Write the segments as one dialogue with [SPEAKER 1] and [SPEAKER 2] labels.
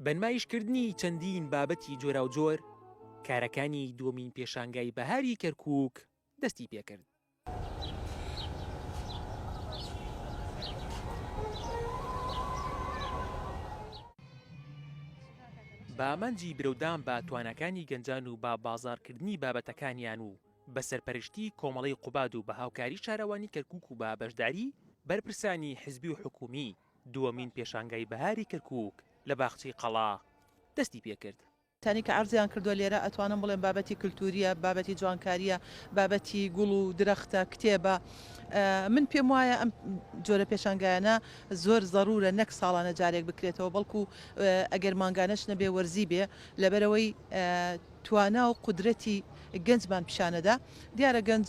[SPEAKER 1] بەنمایشکردنی چەندین بابەتی جۆراوجۆر، کارەکانی دووەمین پێشانگای بەهاری کەرکووک دەستی پێ کرد. بە ئامانجی برەودان بە تواناکانی گەنجان و بە بازاڕکردنی بابەتەکانیان و بە سەرپەرشتیی کۆمەڵەی قوباد و بە هاوکاریی شارەوانیی کەرکووک و بە بەشداریی بەرپرسانی حزبی و حکوومی، دووەمین پێشانگای بەهاری کەرکووک لە باخچەی قەڵا دەستی پێ کرد. تانی کە عەرزیان
[SPEAKER 2] کردووە لێرە ئەتوانم بڵێم بابەتی کلتوورییە، بابەتی جوانکارییە، بابەتی گوڵ و درەختە، کتێبە. من پێم وایە ئەم جۆرە پێشانگایانە زۆر زەروورە نەک ساڵانە جارێک بکرێتەوە، بەڵکوو ئەگەر مانگانەش نەبێ وەرزی بێ لەبەرئەوەی توانا و قودرەتی گەنجمان پیشانەدا، دیارە گەنج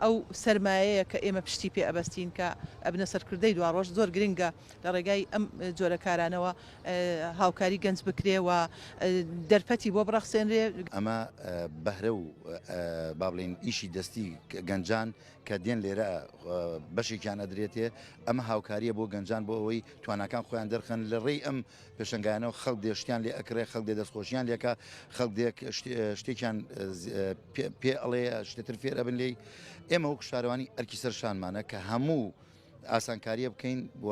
[SPEAKER 2] ئەو سەرمایەیە کە ئێمە پشتی پێ ئەبەستین کە ئەبنە سەرکردەی دواڕۆژ، زۆر گرنگە لە ڕێگای ئەم جۆرە کارانەوە هاوکاری گەنج بکرێ و دەرفەتی بۆ بڕەخسێنرێ. ئەمە
[SPEAKER 3] بەهرە و با بڵێین ئیشی دەستی گەنجان کە دێن لێرە بەشێکیان ئەدرێتێ، ئەمە هاوکارییە بۆ گەنجان بۆ ئەوەی تواناکان خۆیان دەرخەن لە ڕێی ئەم پێشەنگایانە و خەڵک دێ شتیان لێ ئەکڕێ، خەڵک دێ دەستخۆشییان لێ ئەکا، خەڵک دێ شتێکیان پێ ئەڵێ، شتێ تر فێر ئەبن لێی. ئێمە وەکوو شارەوانی ئەرکی سەر شانمانە کە هەموو ئاسانکارییە بکەین و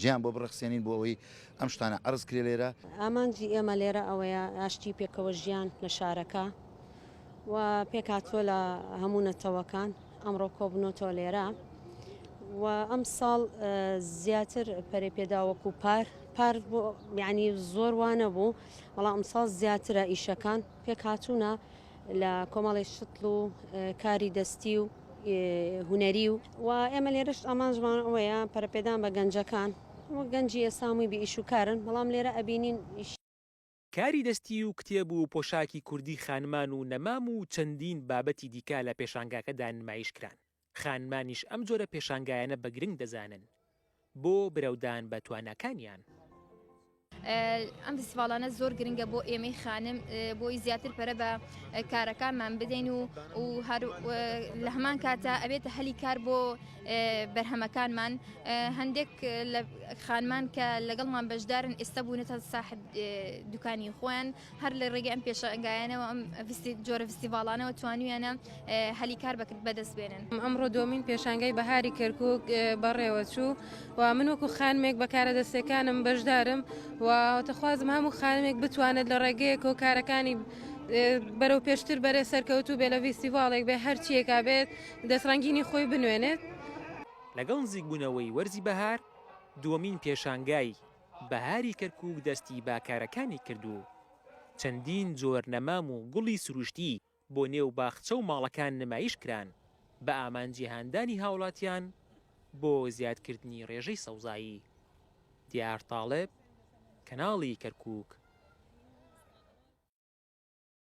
[SPEAKER 3] جێیان بۆ بڕەخسێنین بۆ ئەوەی ئەم شتانە عەرز کرێ لێرە. ئامانجی ئێمە
[SPEAKER 4] لێرە ئەوەیە ئاشتی و پێکەوەژیان لە شارەکە و پێکهاتووە لە هەموو نەتەوەکان ئەمڕۆ کۆبنۆتەوە لێرە و ئەم ساڵ زیاتر پەرێ پێداوەک و پار پار یعنی زۆر وانە بوو بەڵام ئەم ساڵ زیاترە ئیشەکان پێکهاتوونە لە کۆمەڵی شتل و کاری دەستی و هوەری و و ئێمە لێرەش ئامانجمان ئەوەیە پەرپێدان بە گەنجەکان و گەنجی ئێسامووی بە ئیش و کارن بەڵام لێرە ئەبینین کاری
[SPEAKER 1] دەستی و کتێب و پۆشاکی کوردی خانمان و نەمام و چەندین بابەتی دیکە لە پێشانگاکەدا نمایش کران، خانمانیش ئەم جۆرە پێشانگایانە بە گرنگ دەزانن بۆ برەودان بە تواناکانیان.
[SPEAKER 5] ئەم فیستیڤاڵانە زۆر گرنگە بۆ ئێمەی خانم بۆی زیاتر پەرە بە کارەکانمان بدەین و و هەر لە هەمان کاتە ئەبێتە هەلی کار بۆ بەرهەمەکانمان هەندێک لە خانمان کە لەگەڵمان بەشدارن ئێستا بوونەتە ساحب دوکانی خۆیان هەر لە ڕێگە ئەم پێشەنگایانەوە ئەم جۆرە فستیڤالانەوە توانویانە هەلی کار بەکرد بەدەست بێنن ئەمڕۆ دومین پێشانگای
[SPEAKER 6] بەهاری کەرکک بەڕێوەچوو و من وەکو خانمێک بەکارە دەستەکانم بەشدارم و تەخوازم هەموو خانمێک بتوانێت لە ڕێگەیەک و کارەکانی بەرەو پێشتر بەرێ سەرکەوتو بێ لە ویستیڤالێک بێ هەرچیەکە بێت دەستڕەنگینی خۆی بنوێنێت. لەگەڵ
[SPEAKER 1] نزیکبوونەوەی وەرزی بەهار، دووەمین پێشانگای بەهاری کەرکووک دەستی بە کارەکانی کرد و چەندین جۆر نەمام و گوڵی سروشتی بۆ نێو باخچە و ماڵەکان نمایش کران بە ئامانجی هاندانی هاوڵاتیان بۆ زیادکردنی ڕێژەی سەوزایی. دیار تاڵب، کەناڵی کەرکووک.